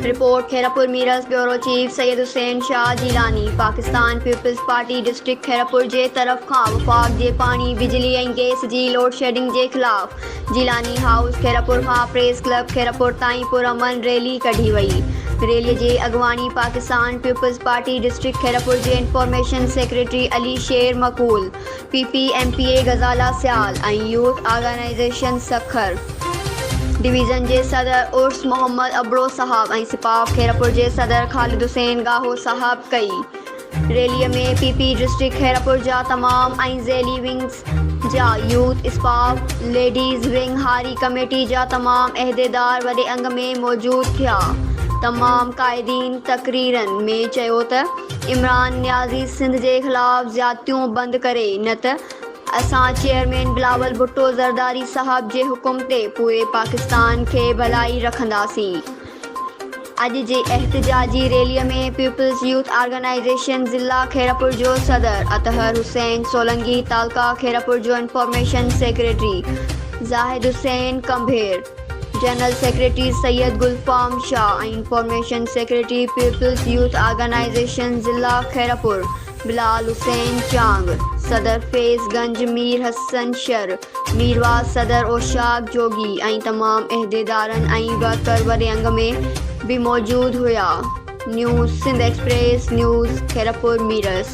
Report, Khairpur Mirs, bureau chief Syed Hussain Shah Jilani, Pakistan Peoples Party district Khairpur جي طرف کان وفاق جي پاڻي، بجلي ۽ گئس جي لوڊشيڊنگ جي خلاف جيلاني هائوس خيرپور کان پريس ڪلب خيرپور تائين پرامن ريلي ڪڍي وئي، ريلي جي اڳواڻي پاڪستان پيپلز پارٽي ڊسٽرڪٽ خيرپور جي information secretary Ali Sher Maqbool, P P M P A Ghazala Sial ۽ youth organisation Sukkur division جي صدر عرس محمد ابڙو صاحب ۽ سپاهه خيرپور جي صدر خالد حسين ڳاهو صاحب ڪئي. Rally ۾ P P district Khairpur جا تمام ۽ ذيلي ونگز جا يوٿ اسپاف، ليڊيز ونگ هاري ڪميٽي جا تمام عهديدار وڏي انگ ۾ موجود ٿيا. تمام قائدين تقريرن ۾ چيو ته. عمران نيازي سنڌ جي خلاف زيادتيون بند ڪري نه ته اسان چيئرمين بلاول ڀٽو زرداري صاحب جي حڪم تي پوري پاڪستان کي ڀلائي رکنداسين اڄ جي احتجاجي ريلي ۾ پيپلز يوٿ آرگنائيزيشن ضلع خيرپور جو صدر اطهر حسين سولنگي تعلقه خيرپور جو information secretary Zahid Hussain Kumbhar general secretary Syed Gul فام Shah ۽ information secretary Peoples youth organisation ضلع خيرپور بلال حسين چانگ، صدر فيض گنج مير حسن شر، ميرواز صدر اوشاق جوڳي ۽ تمام عهديدارن ۽ ورڪر وڏي انگ ۾ به موجود هيا news Sindh Express News Khairpur Mirs.